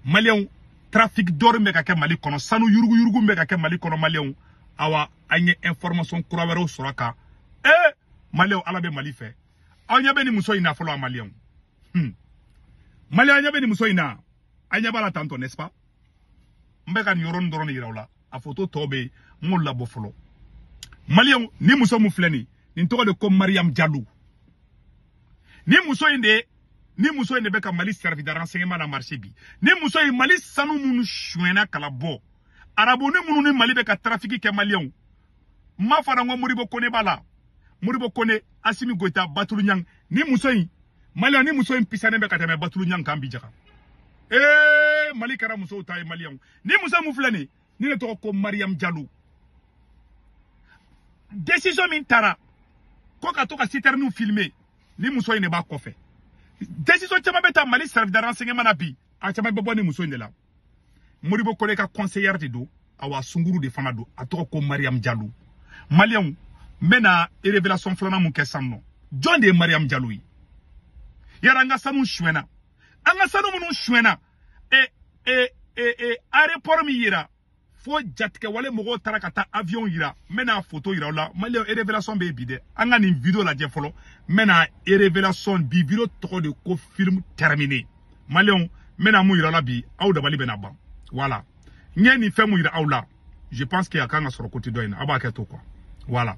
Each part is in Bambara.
maliyɛnw trafic d'or min bɛ ka kɛ mali kɔnɔ sanu yuruguyurugu min bɛ ka kɛ mali kɔnɔ maliyɛnw awa an ye information kura wɛrɛw sɔrɔ a kan ee eh, maliyɛnw ala bɛ mali fɛ aw ɲɛ bɛ nin muso in na fɔlɔ a maliyɛnw hmm. maliyɛn aw ɲɛ bɛ nin muso in na aw ɲɛ b'a la tantɔ n'est ce pas n bɛ ka nin yɔrɔnin dɔrɔn de yira aw la a foto tɔ bɛ n m'o labɔ fɔlɔ maliyɛnw ni muso min filɛ nin nin tɔgɔ de ko mariyamu jalo ni muso in de ni muso in de bɛ ka mali service de renseignement na marcher bi ni muso in mali sanu minnu suɲɛna ka labɔ arabu ni minnu ni mali bɛ ka trafic kɛ maliyɛnw n m'a fɔ n ko modibo kone b'a la modibo kone asimi goyita batulu ɲang ni muso in maliyɛn ni muso in pisanen bɛ ka tɛmɛ batulu ɲang kan bi jaga ee mali kɛra musow ta ye maliyɛnw ni muso min filɛ nin nin de tɔgɔ ko mariyamu jalo desizɔn min tara ko ka to ka sitɛriniw filime ni muso in de b'a kɔfɛ desizɔn caman bɛ ta mali service de renseignement na bi a caman bɛ bɔ ni muso in de la modibo kone ka kɔnseyɛri de don awa sunguru de fana don a tɔgɔ ko mariyamu jalo maliyɛnw n bɛna révélation filanan min kɛ san nɔ jɔn de ye mariyamu jalo ye yara an ka sanu suɲɛna an ka sanu minnu suɲɛna e e e e aéroport min yira fo jatigɛwale mɔgɔw taara ka taa avion yira n bɛna foto yira aw la mali révélation bɛ bi dɛ an ka nin video lajɛ fɔlɔ n bɛna révélation bi video tɔgɔ de ko film terminé maliyɛnw n bɛna min yira aw la bi aw dabali bɛna ban voilà n ye nin fɛn min yira aw la je pense que a kan ka sɔrɔ côté dɔ in na aw b'a kɛ to quoi voilà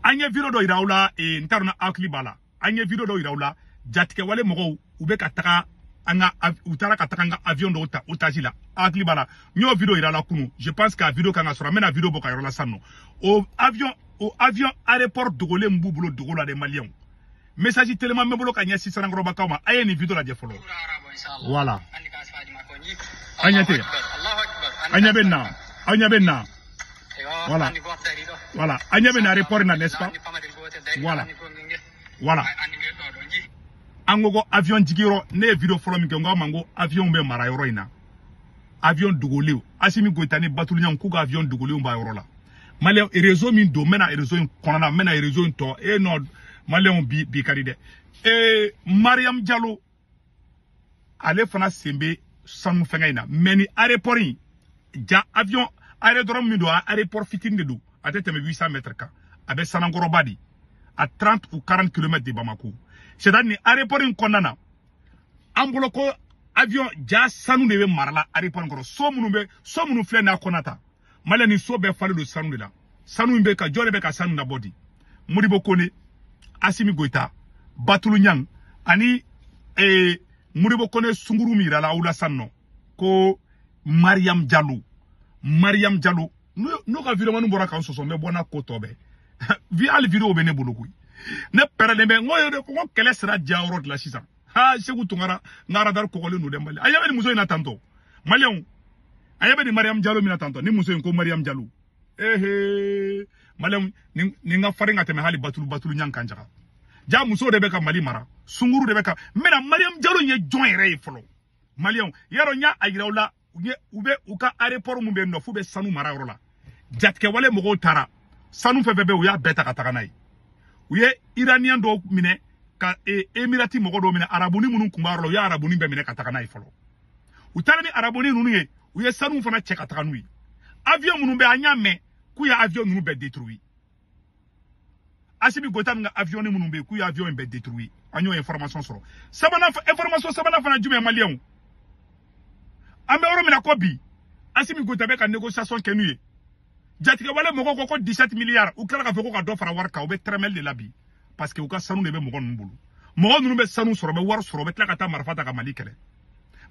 an ye video dɔ yira aw la n t'a dɔn n'aw hakili b'a la an ye video dɔw yira aw la jatigɛwale mɔgɔw u bɛ ka taga an ka u taara ka taga an ka avion dɔw ta otage la aw hakili b'a la n y'o video yira aw la kunu je pense que a video kan ka sɔrɔ n bɛna video bɔ k'a yira aw la sisan nɔ o avion o avion aéroport dogolen min b'u bolo dogo la dɛ maliyɛnw message teliman bɛ n bolo ka ɲɛsin sanankɔrɔbakaw ma a ye nin video lajɛ fɔlɔ voilà aw ɲɛ tɛ aw ɲɛ bɛ nin na aw ɲɛ bɛ nin na voilà voilà aw ɲɛ bɛ nin aéroport na n'est-ce pas voilà voilà an ko ko avion jiginyɔrɔ ne ye video fɔlɔ min kɛ n ko a ma n ko avion bɛ mara yɔrɔ in na avion dogolenw asimi goyita ni batulu ɲang k'u ka avion dogolenw b'a yɔrɔ la maliyɛn réseau min don n bɛna réseau in kɔnɔna n bɛna réseau in tɔnɔ maliyɛnw bi ka di dɛ ee mariyamu jalo ale fana sen bɛ sanu fɛnkɛ in na mais nin aéroport in jaa avion aérodrome min don a aéroport fitini de don a tɛ tɛmɛ 800 mètres kan a bɛ sanankɔrɔba de à 30 ou 40 km de bamako c'est à dire nin aéroport in kɔnɔna na an bolo ko avion jaa sanu de bɛ mara la aéroport in kɔnɔ so minnu bɛ so minnu filɛ nin a kɔnɔ tan maliyɛnw ni so bɛɛ falen don sanu de la sanu in bɛ ka jɔn de bɛ ka sanu labɔ di modibo kone asimi goyita batulu ɲang ani ee, eh, modibo kone sunguru min yirala aw la san nɔ ko mariam jalo mariam jalo n'o ka video minnu bɔra k'an sɔsɔ n bɛ bɔ n'a ko tɔ bɛɛ ye hali video bɛ ne bolo koyi ne pɛrɛlen bɛ n ko kɛlɛ sera diya yɔrɔ de la sisan ha seku tunkara n ka radar kɔgɔlen don dɛ mali a ɲɛ bɛ nin muso in na tantɔ maliyɛnw a ɲɛ bɛ nin mariyamu jalo min na tantɔ ni muso in ko mariyamu jalo ehe maliyɛnw nin ka farin ka tɛmɛ hali batulu batulu ɲan kan jaga ja muso de bɛ ka mali mara sunguru de bɛ ka n bɛna mariyamu jalo ye jɔn yɛrɛ ye fɔlɔ maliyɛnw yarɔ n y'a yira aw la u ye u bɛ u ka aéroport min bɛ yen nɔ f'u bɛ sanu mara yɔrɔ la jatigɛwale mɔgɔw taara sanu fɛn fɛn bɛ yen u y'a bɛɛ ta ka taga n'a ye u ye iraniyɛn dɔw minɛ ka e, emirati mɔgɔ dɔw minɛ arabuni minnu tun b'a yɔrɔ la u ye arabuni bɛɛ minɛ ka taga n'a ye fɔlɔ u taara ni arabuni ninnu ye u ye sanu fana cɛ ka taga n'u ye avion minnu bɛ an y'a mɛn k'u ye avion ninnu bɛɛ détruit Asimi Goyita ka avion minnu bɛ yen k'u ye avion in bɛɛ détruit an y'o information sɔrɔ sabanan information sabanan fana jumɛn maliyɛnw an bɛ yɔrɔ min na ko bi Asimi Goyita bɛ ka négociation kɛ n'u ye jatigɛwale mɔgɔw ko ko 17 milliards u tilala k'a fɔ ko ka dɔ fara wari kan u bɛ tɛrɛmɛli de la bi parce que u ka sanu de bɛ mɔgɔ ninnu bolo mɔgɔ ninnu bɛ sanu sɔrɔ bɛ wari sɔrɔ bɛ tila ka taa marifa ta ka mali kɛlɛ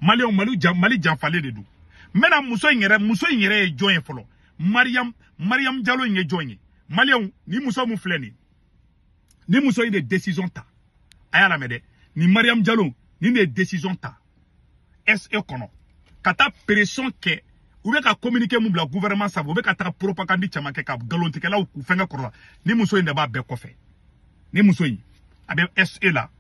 maliyɛnw mali jan mali janfalen de don n bɛna muso in yɛrɛ muso in yɛrɛ ye jɔn ye fɔlɔ mariam mariam jalo in ye jɔn ye maliyɛnw ni muso min filɛ nin ni muso in de décision ta a y'a lamɛn dɛ ni mariam jalo ni de ye décision ta SE kɔnɔ ka taa pression kɛ u bɛ ka communiqué min bila gouvernement sabu u bɛ ka taga propagande caman kɛ ka nkalontigɛlaw k'u fɛnkɛ kɔrɔ la ni muso in de b'a bɛɛ kɔfɛ ni muso in a bɛ SE la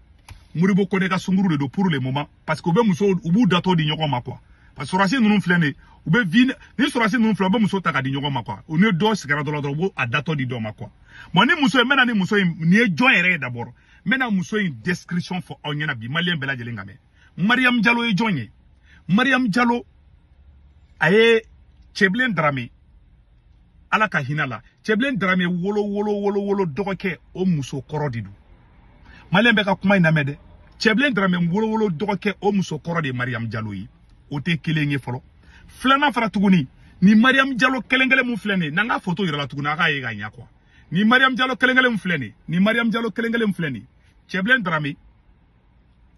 modibo kone ka sunguru de don pour le moment parce que u bɛ muso u b'u datɔ di ɲɔgɔn ma quoi parce que sɔrɔdasi ninnu filɛ nin u bɛ vi ni sɔrɔdasi ninnu filɛ u bɛ muso ta ka di ɲɔgɔn ma quoi u ni dɔ sigira dɔ la dɔrɔn u b'o a datɔ di dɔ ma quoi bon ni muso ye n bɛna ni muso in nin ye jɔn yɛrɛ ye d'abord n bɛna muso in description fɔ aw ɲɛna bi maliyɛn bɛɛ lajɛlen k'a mɛn mariyamu jalo ye jɔn ye mariyamu jalo a ye cɛbilen darame ala ka hinɛ a la cɛbilen darame wolo wolo wolo wolo dɔgɔkɛ o muso kɔrɔ de don maliyɛn bɛɛ ka kuma in lamɛn dɛ cɛbilen darame wolowolo dɔgɔkɛ o muso kɔrɔ de ye mariyamu jalo ye o tɛ kelen ye fɔlɔ filanan fara tuguni ni mariyamu jalo kelen kelen min filɛ nin ye na n ka foto yira aw la tuguni a k'a ye ka ɲɛ quoi ni mariyamu jalo kelen kelen min filɛ nin ye ni mariyamu jalo kelen kelen min filɛ nin ye cɛbilen darame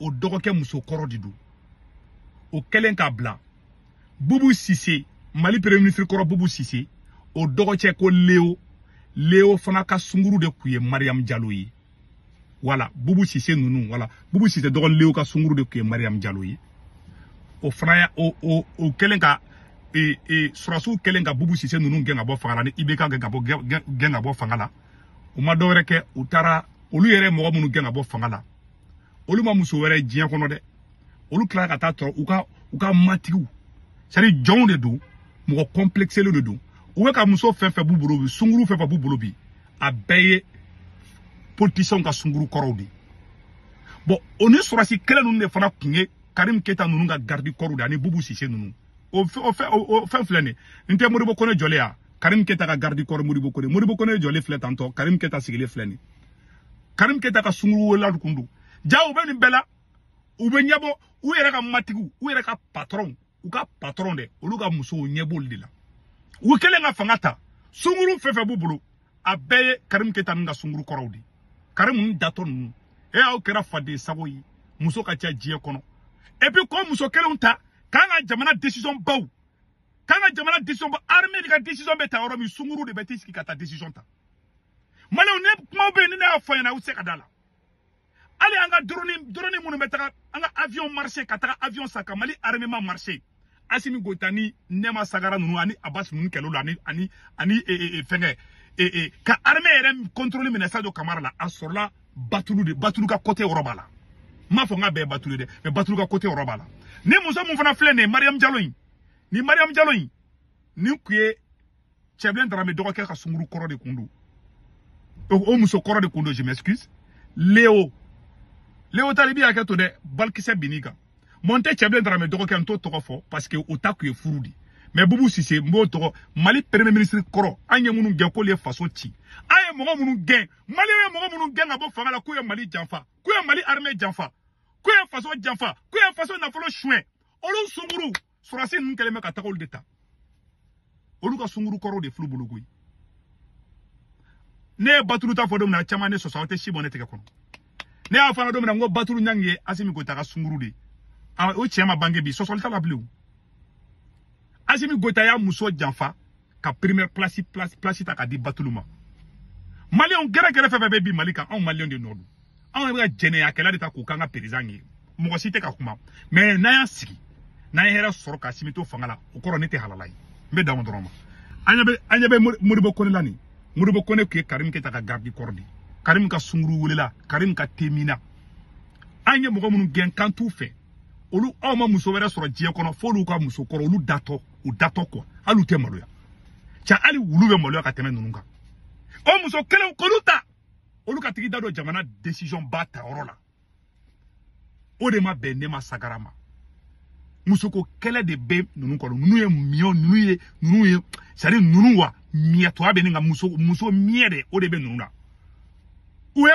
o dɔgɔkɛ muso kɔrɔ de don o kɛlen k'a bila bubu sise mali premier ministre kɔrɔ bubu sise o dɔgɔcɛ ko leo leo fana ka sunguru de tun ye mariam jalo ye voilà bubu sise ninnu voilà bubu sise dɔgɔnin leo ka sunguru de tun ye mariam jalo ye o fana ya o o o kɛlen ka e e surasiw kɛlen ka bubu sise ninnu gɛn ka bɔ fanga la ni ibk gɛn ka bɔ gɛn ka bɔ fanga la u ma dɔwɛrɛ kɛ u taara olu yɛrɛ mɔgɔ minnu gɛn ka bɔ fanga la olu ma muso wɛrɛ diɲɛ kɔnɔ dɛ olu tilara ka taa tɔɔrɔ u ka u ka matigiw c'est à dire jɔnw de don mɔgɔ kɔnplɛkiselen de don u bɛ ka muso fɛn fɛn b'u bolo bi sunguru fɛn fɛn b'u bolo bi a bɛɛ ye politisiyɛnw ka sunguru kɔrɔw de ye bɔn o ni sɔrɔsi kelen ninnu de fana tun ye karim keyita ninnu ka garidi kɔrɔw de ani bubu sise ninnu o fɛn filɛ nin n tɛ modibo kone jɔlen ya karim keyita ka garidi kɔrɔ modibo kone modibo kone jɔlen filɛ tantɔ karim keyita sigilen filɛ nin karim keta ka sunguru wolola kun don ja u bɛ nin bɛɛ la u bɛ ɲɛbɔ u yɛrɛ ka matigiw u yɛrɛ ka patɔrɔnw u ka patɔrɔn dɛ olu ka musow ɲɛ b'olu de la u kɛlen ka fanga ta sunguru fɛn fɛn b'u bolo a bɛɛ ye karim keta ninnu ka sunguru kɔrɔw de ye karim ninnu datɔ ninnu e aw kɛra faden sago ye muso ka ca diɲɛ kɔnɔ et puis k'o muso kelenw ta k'an ka jamana decision baw k'an ka jamana decision ba armée de ka decision bɛ ta yɔrɔ min sunguru de bɛ t'i sigi ka taa decision ta maliens ne kumaw bɛ yen ni ne y'a fɔ aw ɲɛna aw tɛ se ka da a la hali an ka doroni doroni minnu bɛ taga an ka avion marché ka taga avion san ka mali armement marché asimi goyita ni nɛma sagara ninnu ani abasi ninnu kɛlɛ la ani ani ani e, e, e, fɛnkɛ ka armée yɛrɛ contrôle minɛ sadio kamara la a sɔrɔla batulu de batulu ka côté yɔrɔ b'a la n m'a fɔ n k'a bɛɛ batulu ye dɛ mais batulu ka côté yɔrɔ b'a la ni muso min fana filɛ nin ye mariam jalo in ni mariam jalo in nin tun ye cɛbilen darame dɔgɔkɛ ka sunguru kɔrɔ de kun don o muso kɔrɔ de kun don je m'excuse leo leo talibi hakɛ to dɛ balikisɛ bin'i kan mɔ n tɛ cɛbilen darame dɔgɔkɛ n t'o tɔgɔ fɔ parce que o ta kun ye furu de ye mais bubu sise n b'o tɔgɔ mali premier ministre kɔrɔ an ye minnu gɛn k'olu ye faso ci an ye mɔgɔ minnu gɛn mali ye mɔgɔ minnu gɛn ka bɔ fanga la k'u ye mali janfa k'u ye mali armée janfa k'u ye faso janfa k'u ye faso nafolo suɲɛ olu sunguru surasi ninnu kɛlen bɛ ka taga olu de ta olu ka sunguru kɔrɔw de fil'u bolo koyi ne ye batulu ta fɔ don min na caman ye ne sɔsɔ aw tɛ si bɔ ne tɛgɛ kɔnɔ ne y'a fɔ aw ɲɛna don min na n ko batulu ɲangi ye asimi goyita ka sunguru de ye o cɛ ma bange bi sɔsɔli t'a la bilen o asimi goyita y'a muso janfa ka première place place ta ka di batulu ma maliyɛnw gɛrɛgɛrɛ fɛn fɛn bɛ bin mali kan anw maliyɛnw de nɔ don anw bɛ ka jɛnɛyakɛla de ta k'u k'an ka perezan ye mɔgɔ si tɛ ka kuma mais n'an y'a sigi n'an ye hɛrɛ sɔrɔ k'asimi to fanga la o kɔrɔ ne tɛ halala ye n bɛ dan o dɔrɔn ma an ɲɛ bɛ an ɲɛ bɛ modibo kone la nin modibo kone tun ye karim keta ka gardi kɔrɔ de karim ka sunguru welela karim ka temina an ye mɔgɔ minnu gɛn k'an t'u fɛ olu aw ma muso wɛrɛ sɔrɔ diɲɛ kɔnɔ f'olu ka muso kɔrɔ olu datɔ u datɔ quoi hali u tɛ maloya ca hali wulu bɛ maloya ka tɛmɛ ninnu kan o muso kelenw k'olu ta olu ka tigi da don jamana décision ba ta yɔrɔ la o de ma bɛn ne ma sagara ma musoko kɛlɛ de bɛ ninnu kɔnɔ ninnu ye miɲɔ ninnu ye ninnu ye sari ninnu wa miɲɛtɔya bɛ nka muso muso miɲɛ de o de bɛ ninnu na u ye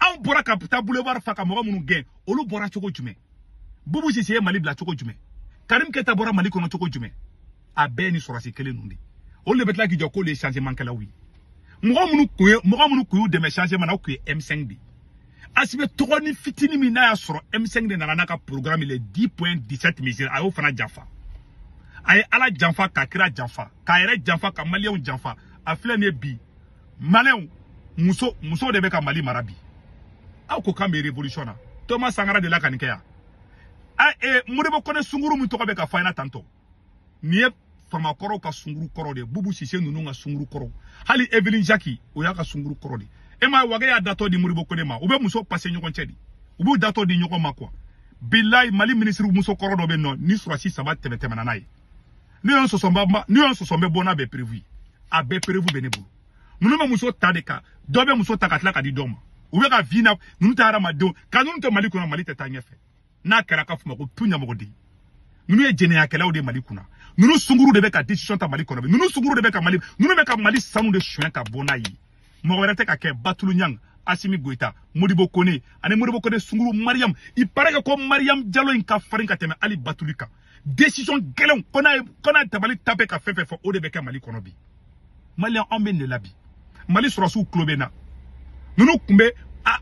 anw bɔra ka taa boulevard fa ka mɔgɔ minnu gɛn olu bɔra cogo jumɛn bubu sise ye mali bila cogo jumɛn karim keta bɔra mali kɔnɔ cogo jumɛn a bɛɛ ni sɔrɔsi kelen ninnu de olu de bɛ tila k'i jɔ k'olu ye changement kɛlaw ye mɔgɔ minnu kun ye mɔgɔ minnu kun y'u dɛmɛ changement na o kun ye M5 de ye asimi tɔgɔnin fitini min n'a y'a sɔrɔ M5 de nana n'a ka programme les 10.17 mesures a y'o fana janfa a ye ala janfa ka kira janfa k'a yɛrɛ janfa ka maliyɛnw janfa a filɛ nin ye bi maliyɛnw muso de bɛ ka mali mara bi aw ko k'an bɛ révolution na toma sankara delila ka nin kɛ yan a e modibo kone sunguru min tɔgɔ bɛ ka fɔ an ɲɛna tantɔ nin ye faama kɔrɔw ka sunguru kɔrɔ de bubu sise ninnu ka sunguru kɔrɔ hali evelyn jaki o y'a ka sunguru kɔrɔ de e ma wage y'a datɔ di modibo kone ma u bɛ muso pase ɲɔgɔn cɛ di u b'u datɔ di ɲɔgɔn ma quoi bilayi mali minisiri muso kɔrɔ dɔ bɛ nɔ ni sɔrɔsi saba tɛmɛ tɛmɛna n'a ye n'i y'o sɔsɔ ba n'i y'o sɔsɔ n bɛ bɔ n'a bɛɛ preuve ye a bɛɛ preuve bɛ ne bolo ninnu bɛ muso ta de kan dɔ bɛ muso ta ka tila ka di dɔ ma u bɛ ka vie na ninnu tɛ hadamadenw ka ninnu to mali kunna mali tɛ taa ɲɛfɛ n'a kɛra k'a f'u ma ko tu ɲamɔgɔden ninnu ye jɛnɛyakɛlaw de mali kunna ninnu sunguru de bɛ ka décision ta mali kɔnɔ bi ninnu sunguru de bɛ ka mali ninnu bɛ ka mali sanu de suɲɛ ka bɔ n'a ye mɔgɔ wɛrɛ tɛ ka kɛ batulu ɲang asimi goyita modibo kone ani modibo kone sunguru mariyamu il paraît que ko mariyamu jalo in ka farin ka tɛmɛ hali batuli kan décision gɛlɛnw ko n'a ye ko n'a tabali tape ka fɛn fɛn fɔ o de bɛ kɛ mali kɔnɔ bi maliyɛn anw bɛ nin de la bi mali sɔrɔsiw tulo bɛ n na ninnu tun bɛ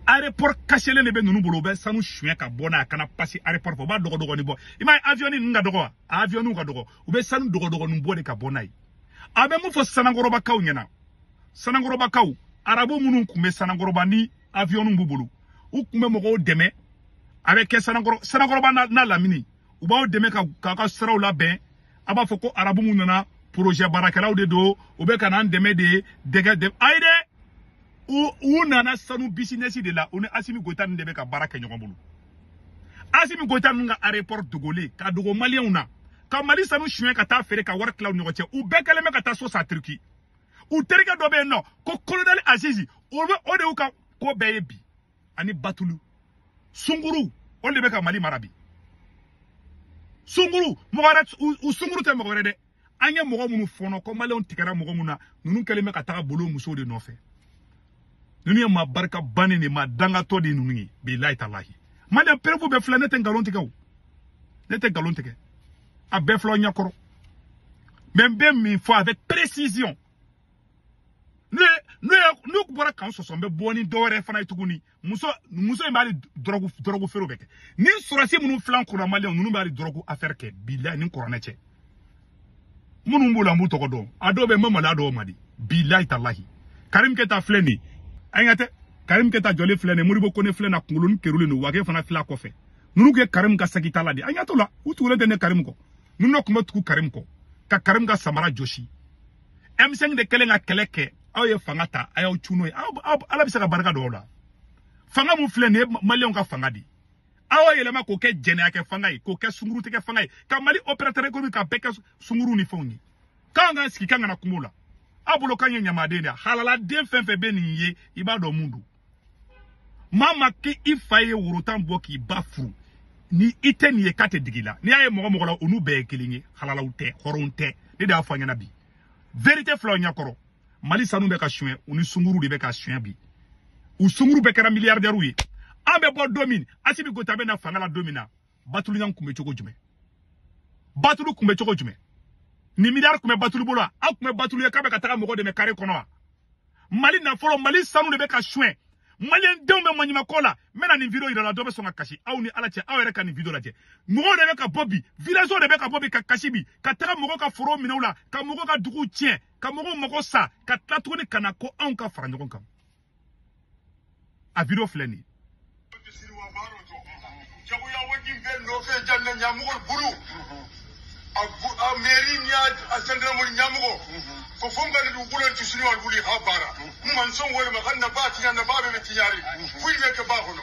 aéroport kaselen de bɛ ninnu bolo u bɛ sanu suɲɛ ka bɔ n'a ye a kana pase aéroport fɛ u b'a dogodogonin bɔ i m'a ye avion ninnu ka dɔgɔ wa a avion ka dɔgɔ u bɛ sanu dogodogonin bɔ de ka bɔ n'a ye a bɛ mun fɔ sanankɔrɔbakaw ɲɛna sanankɔrɔbakaw arabu minnu tun bɛ sanankɔrɔba ni avion b'u bolo u tun bɛ mɔgɔw dɛmɛ a bɛ kɛ sanankɔrɔ sanankɔrɔba n'a lamini u b'aw dɛmɛ k'a ka siraw labɛn a b'a fɔ ko arabu minnu nana porozɛ baarakɛlaw de don u bɛ ka n'an dɛmɛ de dɛgɛ dɛ ayi dɛ u nana sanu bisinɛsi de la u ni asimi goyita ninnu de bɛ ka baara kɛ ɲɔgɔn bolo asimi goyita ninnu ka arepɔri dogolen ka dogo maliyɛnw na ka mali sanu suɲɛ ka taa feere ka wari tila u ɲɔgɔn cɛ u bɛɛ kɛlen bɛ ka taa so san turiki u terikɛ dɔ bɛ yen n'o ko kolonɛli azizi o bɛ o de y'u ka ko bɛɛ ye bi ani batulu sunguru o de bɛ ka mali mara bi sunguru mɔgɔ wɛrɛ u sunguru tɛ mɔgɔ wɛrɛ dɛ an ye mɔgɔ minnu fɔ n'o ko maliyɛnw tigɛra mɔgɔ minnu na ninnu kɛlen bɛ ka taga bolo musow de nɔfɛ ninnu ye maa barika bannen de maa dangatɔ de ninnu ye bilayi talahi maliyɛn perefu bɛɛ filɛ ne tɛ nkalon tigɛ o ne tɛ nkalon tigɛ a bɛɛ filɛ aw ɲɛkɔrɔ mɛ n bɛ min fɔ avec précision ne ne n'u bɔra k'an sɔsɔ n bɛ bɔ ni dɔwɛrɛ fana ye tuguni muso muso in bɛ hali dɔrɔgu dɔrɔgu feerew bɛ kɛ ni sɔrɔdasi minnu filan kura maliyɛnw ninnu bɛ hali dɔrɔgu afɛri kɛ bilayi ni kɔrɔnɛ cɛ minnu b'o la n b'u tɔgɔ dɔn a dɔw bɛ ma mali a dɔw ma di bilayi talahi karim keta filɛ nin ye an ka tɛ karim keta jɔlen filɛ nin ye modibo kone filɛ n'a kunkolo ni kerulen don wage fana filɛ a kɔfɛ ninnu kɛ karim ka saki tala de an ka to la u tugulen tɛ ne karim kɔ ninnu dɔ tun bɛ tugu karim kɔ ka karim ka samara jɔsi M5 de kɛlen ka kɛlɛ kɛ aw ye fanga ta a y'aw cun n'o ye ala bɛ se ka barika don o la fanga min filɛ nin ye maliyɛnw ka fanga de aw y'o yɛlɛma k'o kɛ jɛnɛya kɛ fanga ye k'o kɛ sungurutigɛ fanga ye ka mali opérateur économique ka bɛɛ kɛ sunguru ni fɛnw ye k'an k'an sigi k'an kana kuma la aw bolo k'an ye ɲamaden de ye halaladen fɛn fɛn bɛ nin ye i b'a dɔn mun don maa ma k'i i fa ye woro tan bɔ k'i ba furu ni i tɛ nin ye k'a tɛ digi i la n'i y'a ye mɔgɔ mɔgɔ la u n'u bɛɛ ye kelen ye halalaw tɛ hɔrɔnw tɛ ne de y'a fɔ aw ɲɛ na bi verite filɛ aw ɲɛkɔrɔ mali sanu bɛ ka suɲɛ u ni sunguru de bɛ ka suɲɛ bi u sunguru bɛɛ kɛra miliyardɛriw ye an bɛ bɔ don min asimi goyita bɛ na fanga la don min na batulu ɲan kun bɛ cogo jumɛn batulu kun bɛ cogo jumɛn nin miliyari kun bɛ batulu bolo wa aw kun bɛ batulu ye k'a bɛ ka taga mɔgɔ dɛmɛ kare kɔnɔ wa mali nafolo mali sanu de bɛ ka suɲɛ maliyɛn denw bɛ maɲumako la n bɛna nin video yira aw la dɔ bɛ sɔn ka kasi aw ni ala cɛ aw yɛrɛ ka nin video lajɛ mɔgɔw de bɛ ka bɔ bi villagew de bɛ ka bɔ bi ka kasi bi ka taga mɔgɔw ka forow minɛ u la ka mɔgɔw ka duguw tiɲɛ ka mɔgɔw mago sa ka tila tuguni ka na ko anw ka fara ɲɔgɔn kan a video filɛ nin jagoya waati bɛɛ nɔfɛ jamana ɲamɔgɔ bolo a mɛri ni a zandaramori ɲamɔgɔ ko fo n ka dugukolo ti siniwalu wuli ha baara n ma n sɔn wɛrɛ ma ka nafa tiɲɛ nafa bɛ bɛ tiɲari foyi bɛ kɛ ba kɔnɔ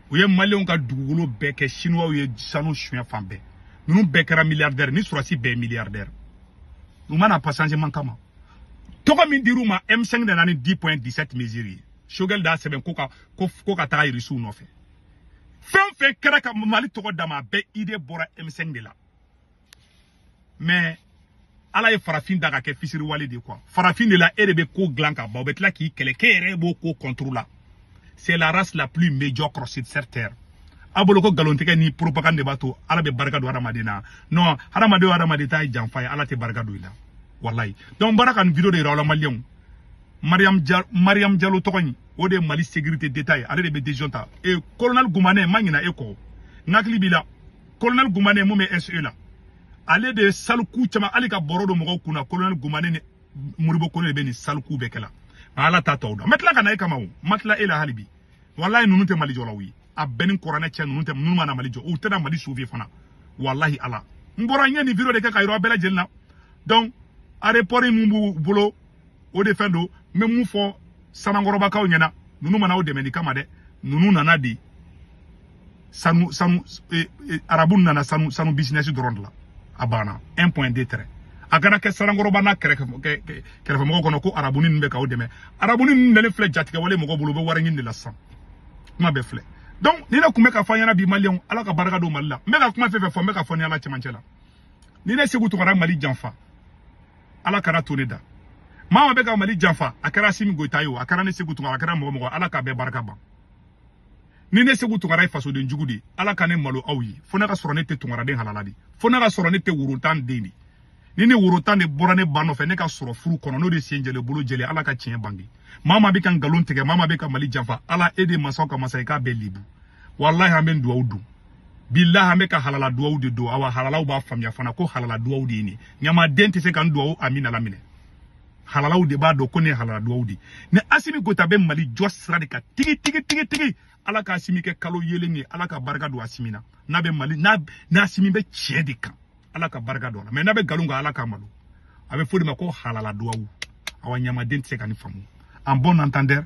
u ye maliyɛnw ka dugukolo bɛɛ kɛ sinuwaw ye sanu suɲɛ fan bɛɛ ninnu bɛɛ kɛra miliyardɛri ni sorasi bɛɛ ye miliyardɛri u ma na pas changement kama tɔgɔ min dir'u ma m5 de nana ni 10 point 17 mesure ye sogɛli d'a sɛbɛn ko ka ko, ko ka taga irisiw nɔfɛ fɛn o fɛn kɛra ka mali tɔgɔ dama a bɛɛ idée bɔra m5 de la mais ala ye farafin da ka kɛ fisiriwale de quoi farafin de la e de bɛ ko dilan ka ban o bɛ tila k'i kɛlɛ k'e yɛrɛ b'o ko contre la c'est la race la plus médiocre sur cette terre a bolo ko nkalontigɛ ni propagande de b'a to ala bɛ barika don hadamaden na non hadamaden o hadamaden ta ye janfa ye ala tɛ barika don i la walayi donc n bɔra ka nin video de yira aw la maliyɛnw mariam jalo mariam jalo tɔgɔ in o de ye mali sécurité d'état ye ale de bɛ décision ta e colonel gumane n ma ɲinɛ e kɔ n hakili b'i la kolonɛli gumane min bɛ se la ale de ye sale coup caman hali ka bɔrɔ don mɔgɔw kunna kolonɛli gumane ni modibo kone de bɛ nin sale coup bɛɛ kɛla nka ala t'a tɔw dɔn n bɛ tila ka na e kama o n ma tila e la hali bi walayi ninnu tɛ mali jɔlaw ye a bɛ n ni kuranɛ cɛ ninnu tɛ ninnu ma na mali jɔ u tɛna mali sauver fana walahi ala n bɔra n ye nin video de kɛ k'a yira bɛɛ lajɛlen na donc arepɔri min b'u bolo o de fɛn don n bɛ min fɔ sanankɔrɔbakaw ɲɛna ninnu ma na aw dɛmɛni kama dɛ ninnu nana de sanu sanu e, e, arabu nana sanu sanu bisinɛsi dɔrɔn de la a banna un point deux traits a kana kɛ sanankɔrɔba n'a kɛrɛfɛmɔgɔ kɔnɔ ko arabuni ninnu bɛ k'aw dɛmɛ arabuni ninnu nalen filɛ jatigɛwale mɔgɔ bolo u bɛ wari ɲini de la sisan kuma bɛɛ filɛ donc ni ne tun bɛ ka fɔ aw ɲɛna bi maliyɛnw ala ka barika don mali la n bɛ ka kuma fɛn fɛn fɔ n bɛ k'a fɔ n ni ala cɛmancɛ la ni ne segu tunkara mali janfa ala kana to ne da maa maa bɛ ka mali janfa a kɛra asimi goyita ye o a kɛra ne segu tunkara a kɛra mɔgɔ mɔgɔ ala k'a bɛɛ barika ban ni ne segu tunkara ye fasoden jugu di ala ka ne malo aw ye fo ne ka sɔrɔ ne tɛ tunkaraden halala di fo ne ka sɔrɔ ne tɛ woro tan den de ni ne woro tan de bɔra ne ba nɔfɛ ne ka sɔrɔ furu kɔnɔ n'o de sen jɛlen bolo jɛlen ala ka tiɲɛ bange maa maa bɛ ka nkalon tigɛ maa maa bɛ ka mali janfa ala e de masaw ka masa ye k'a bɛɛ libu walahi an bɛ duwawu don bilahi an bɛ ka halala duwawu de don awa halalaw b'a faamuya fana ko halala duwawu de ye nin ɲamaden tɛ se ka nin duwawu amina laminɛ halalaw de b'a dɔn ko nin ye halala duwawu de ni asimi goyita bɛ mali jɔ sira de kan tigi tigi tigi tigi ala ka asimi kɛ kalo yelen ye ala ka barika don asimi na n'a bɛ mali n'a n'a asimi bɛ tiɲɛ de kan ala ka barika don a la mais n'a bɛ nkalon kan ala k'a malo a bɛ fɔ o de ma ko halala duwawu awa ɲamaden tɛ se ka nin faamu à bon entendeur